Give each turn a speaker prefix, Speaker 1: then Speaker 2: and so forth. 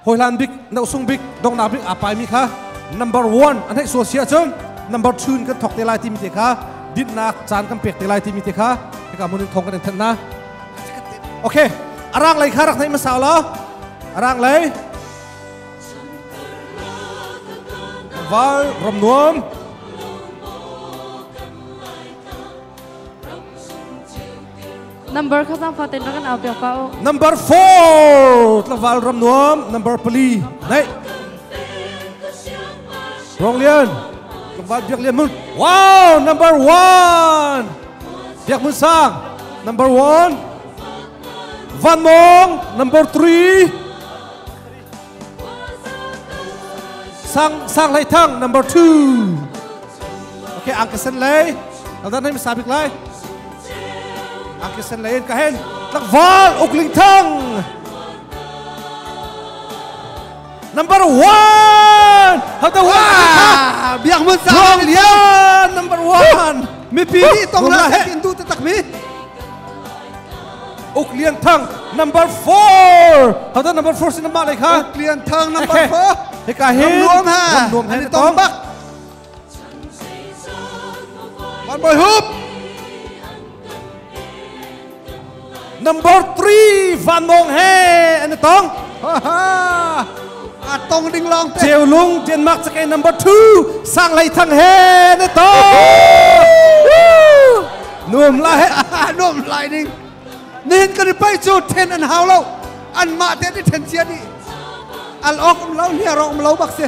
Speaker 1: Hawilan bik, nosung bik, dongnak bik aa paimi kha number one an heih sual si ahcun number two in kan thawk te lai timi te kha dinnak caan kan pek te lai timi te kha hika mun in thong kan in thanh na okay arang lei kha rak nei masau law arang lei vai rom nuam Number kha zangfa ten rak in au piak ka u. Number 4 tlaval ram nuam number pali nei Rong Lian Kembat Biak Lian Mun Wow number 1 Biak Mun Sang number 1 Van Mong number 3 sang sang hlei thang number 2 okay angka sen lei dan nai sabik lai angka sen lei in ka hen tlangval ukling thang number 1 how the one biak mun sang lian number 1 mipi nih tong la he in du te tak mi Uk Lian Thang number 4 How da number 4 sin ma lai kha Uk Lian Thang number 4 heka hi Ram Nuam ha an nuam he ni tong bak One boy hoop Number 3 Van Mong he an tong a tong ding long te Cheu Lung Denmark cake number 2 Sang Lei Thang he an tong nuam lai nuam lai ning nihin kan i paih cu then an hau lo anmah te nih then cia nih al awk um lo hliar awk um lo bak si